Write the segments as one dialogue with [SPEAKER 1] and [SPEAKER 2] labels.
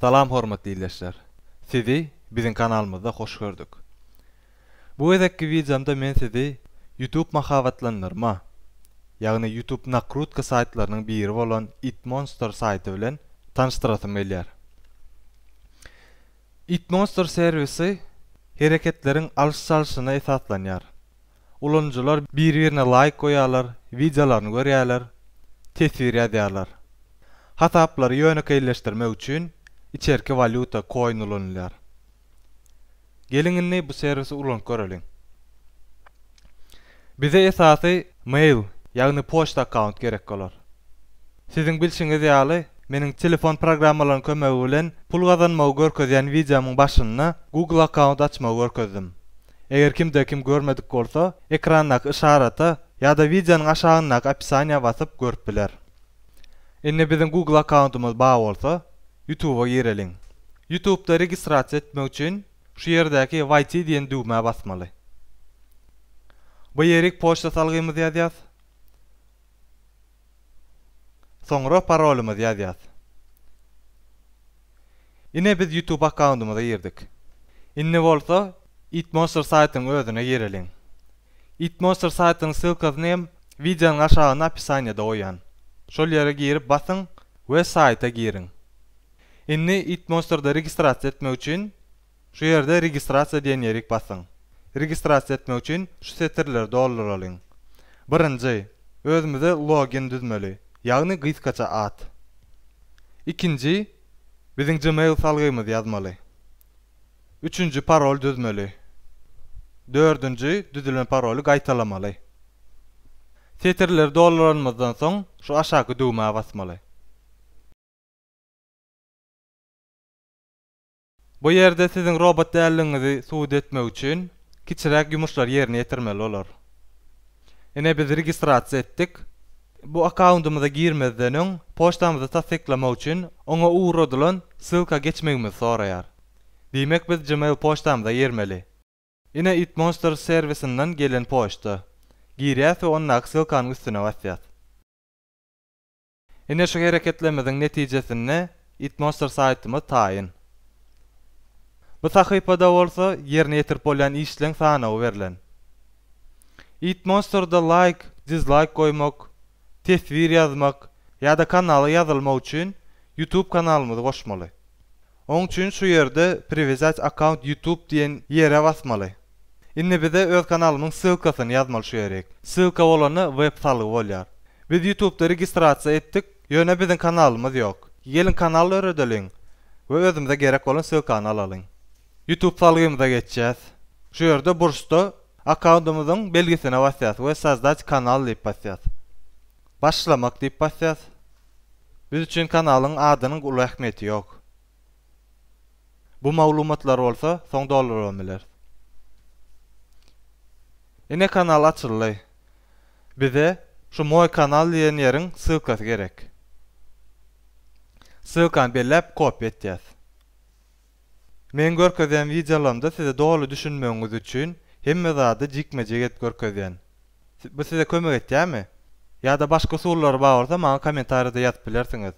[SPEAKER 1] Salam hormatly ildeşler! Sizi biziň kanalymyzda hoş gördük. Bu gezekki wideomda men sizi YouTube mahabatlandyrma, ýagny YouTube nakrutka saýtlarynyň biri bolan Itmonster saýty bilen tanyşdyrasym gelýär. Itmonster serwisi hereketleriň alyş-çalşyna esaslanýar. Ulanyjylar bir-birine laýk goýýarlar, wideolaryny görýärler, teswir ýazýarlar. Hasaplary ýönekeýleşdirmek üçin içerki walýuta, koin ulanylýar. Geliň indi bu serwisi ulanyp göreliň. Bize esasy mail, ýagny poçta akkaunt gerek bolar. Siziň bilşiňiz ýaly, meniň telefon programmalarynyň kömegi bilen pul gazanmagy görkezýän wideomyň başynda Google akkaunt açmagy görkezdim. Eger kimde kim görmedik bolsa, ekrandaky yşarata ýa-da wideonyň aşagyndaky opisaniýa basyp görüp biler. Indi biziň Google akkauntymyz bar bolsa, Youtube-a gireliň. Youtube-da registrasiýa etmek üçin, Şu ýerdäki Wayte diýen düwmä basmaly. Bu ýerik poçta salgymyzy ýazýas. Soňra parolymyzy ýazýas. Ine biz YouTube akkauntymyza girdik. Indi bolsa Eatmonster saýtynyň özüne gireliň. Eatmonster saýtynyň ssylkasyny hem wideonyň aşagynda opisaniýada goýýan. Şol ýere girip basyň we saýta giriň. Indi Eatmonster-da registrasiýa etmek üçin şu ýerde Registrasiýa diýen ýerik basyň. Registrasiýa etmek üçin şu setirleri dolduralyň. Birinji, özümize login düzmeli, ýagny gysgaça at. Ikinji, biziň Gmail salgymyzy ýazmaly. Üçünji, parol düzmeli. Dördünji, düzülen paroly gaýtalamaly. Setirleri dolduranymyzdan soň şu aşaky düwmä basmaly. Bu ýerde siziň robot däldigiňizi subut etmek üçin kiçiräk ýumuşlary ýerine ýetirmeli bolar. Ine biz registrasiýa etdik. Bu akkawundymyza girmezden öň poçtamyzy tassyklamak üçin oňa ugradylan ssylka geçmegimizi soraýar. Diýmek biz gmail poçtamyza girmeli. Ine Eatmonsters serwisinden gelen poçta. Girýäs we ondaky ssylkanyň üstüne basýas. Ine şu hereketlerimiziň netijesinde Itmonster saýtymyz taýyn. Bu sahypada bolsa ýerine ýetirip bolýan işleň sanawy berlen. Itmonsterda laýk, dizlaýk goýmak, teswir ýazmak ýa-da kanala ýazylmak üçin Youtube kanalymyzy goşmaly. Oň üçin şu ýerde priwizýat akkaunt ýutub diýen ýere basmaly. Indi bize öz kanalymyň ssylkasyny ýazmaly şu ýerik. Ssylka bolanda web salgy bolýar. Biz ýutubda registrasiýa etdik, ýöne biziň kanalymyz ýok. Geliň kanal döredeliň we özümize gerek bolan ssylkany alalyň. Ýutub salgymyza geçýäs. Şu ýerde burçda akkaundymyzyň belgisine basýas we Sozdać kanal diýip basýas. Başlamak diýip basýas. Biz üçin kanalyň adynyň uly ähmiýeti ýok. Bu maglumatlar bolsa soň dolduryp hem bileris. Ine kanal açyldy. Bize şu Moý kanal diýen ýeriň ssylkasy gerek. Ssylkany belläp kopiýa etýäs. Meň görkezýän wideolarymda size doly düşünmegiňiz üçin hemme zady jikme-jik edip görkezýän. Bu size kömek etýärmi? Ýa-da başga usullary bar bolsa maňa kommentariýada ýazyp bilersiňiz.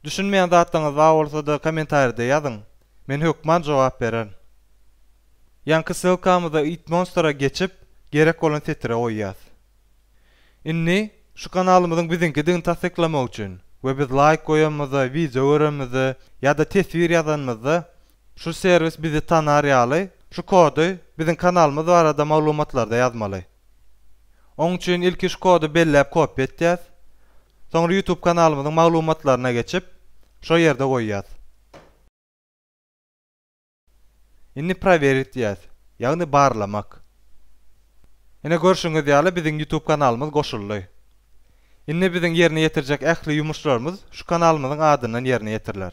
[SPEAKER 1] Düşünmeýän zatlaryňyz bar bolsada kommentariýada ýazyň, men hökman jogap bererin. Ýaňky ssylkamyzda It Monster-a geçip, gerek bolan setire goýýas. Indi şu kanalymyzyň biziňkidigini tassyklamak üçin we biz laýk goýanymyzda, wideo görenimizde ýa-da teswir ýazanymyzda şu serwis bizi tanar ýaly şu kody biziň kanalymyz barada maglumatlarda ýazmaly. Oň üçin ilki şu kody belläp kopýa etýäs. Soňra YouTube kanalymyzyň maglumatlaryna geçip şo ýerde goýýas. Indi prowerit diýýäs. Ýagny barlamak. Ine görşüňiz ýaly biziň ýutub kanalymyz goşuldy. Indi biziň ýerine ýetirjek ähli ýumuşlarymyz şu kanalymyzyň adyndan ýerine ýetiriler.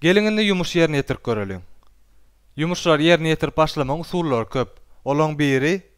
[SPEAKER 1] Geliň indi ýumuş ýerine ýetirip göreliň. Ýumuşlary ýerine ýetirip başlamagyň usullary köp. Olaň biri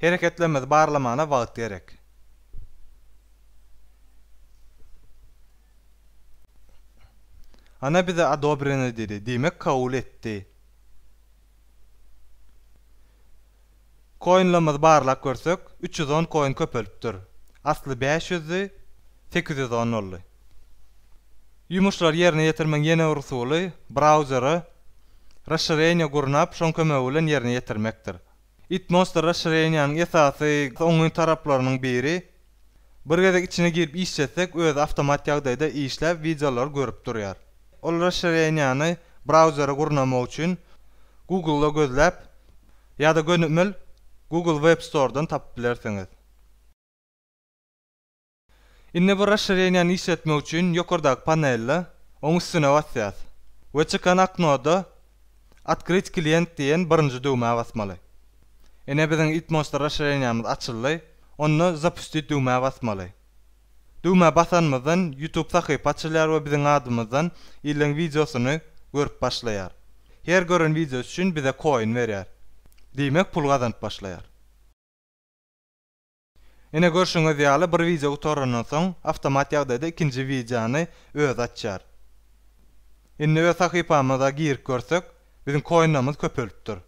[SPEAKER 1] Hereketlerimizi barlamana wagt gerek. Ana bize odobreno diýdi, diýmek kabul etdi. Koinlerimizi barlap görsek, üç ýüz on koin köpelipdir. Asly bäş ýüzdi, sekiz ýüz on boldy. Ýumuşlary ýerine ýetirmegiň ýene bir usuly, brauzere raşşireniýe gurnap, şoň kömegi bilen ýerine ýetirmekdir. It Monster Raşireniýanyň esasy oňyn taraplarynyň biri, bir gezek içine girip işletsek özi awtomat ýagdaýda işläp wideolary görüp durýar. Ol raşireniýany brauzere gurnamak üçin Google-da gözläp ýa-da gönümel Google Web Store-dan tapyp bilersiňiz. Indi bu raşşireniýany işletmek üçin ýokardaky panelde oň üstüne basýas we çykan oknoda Otkryt klient diýen birinji düwmä basmaly. Ine biziň Itmosta raşşireniýamyz açyldy, onda Zapustit düwmä basmaly. Düwmä basanymyzdan Youtube sahypa açylýar we biziň adymyzdan illeň wideosyny görüp başlaýar. Her gören wideosy üçin bize koin berýär. Diýmek pul gazanyp başlaýar. Ine görşüňiz ýaly bir wideo gutarandan soň awtomat ýagdaýda ikinji wideony özi açýar. Indi öz sahypamyza girip görsek biziň koinlerimiz köpelipdir.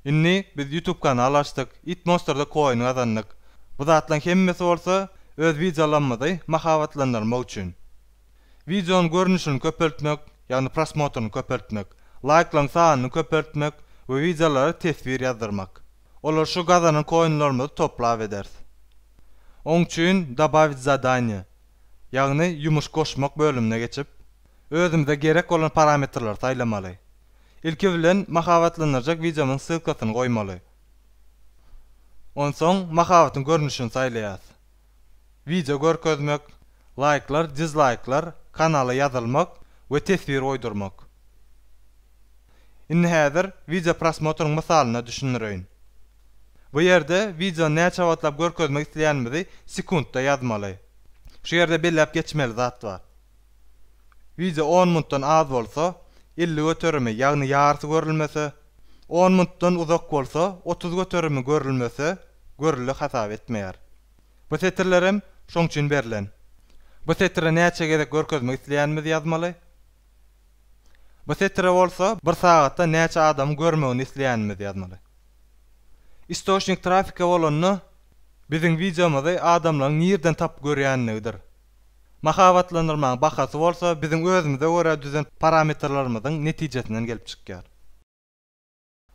[SPEAKER 1] Indi biz ýutub kanal açdyk it monsterda koin gazandyk bu zatlaň hemmesi bolsa öz wideolarymyzy mahabatlandyrmak üçin. Wideonyň görnüşini köpeltmek ýagny prosmotryny köpeltmek, laýklaryň sanyny köpeltmek we wideolara teswir ýazdyrmak. Olar şu gazanan koinlarymyzy toplap ederis. Oň üçin Dobawit zadaniýe, ýagny Ýumuş goşmak bölümine geçip, özümize gerek bolan parametrleri saýlamaly. Ilki bilen mahabatlandyrjak wideomyň ssylkasyny goýmaly. Onsoň mahabatyň görnüşini saýlaýas. wideo görkezmek, laýklar, dizlaýklar, kanala ýazylmak we teswir goýdurmak. Indi häzir wideo prosmotryň mysalynda düşündireýin. Bu ýerde wideony näçe wagtlap görkezmek isleýänimizi sekuntda ýazmaly. Şu ýerde belläp geçmeli zat bar. Wideo on minutdan az bolsa, elli göterimi, ýagny ýarysy görülmese, on minutdan uzak bolsa, otuz göterimi görülmese, görüli hasap etmeýär. Bu setirlerem şoň üçin berlen. Bu setiri näçe gezek görkezmek isleýänimizi ýazmaly. Bu setire bolsa bir sagatda näçe adamyň görmegini isleýänimizi ýazmaly. Istoçnik trafike bolanda biziň wideomyzy adamlaryň nirden tapyp görýänligidir. Mahabatlandyrmaň bahasy bolsa biziň özümize görä düzen parametrlarymyzyň netijesinden gelip çykýar.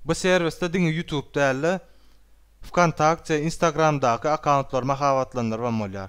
[SPEAKER 1] Bu serwisde diňe YouTube däl-de, Wkontakte, Instagramdaky akkauntlary mahabatlandyrybam bolýar.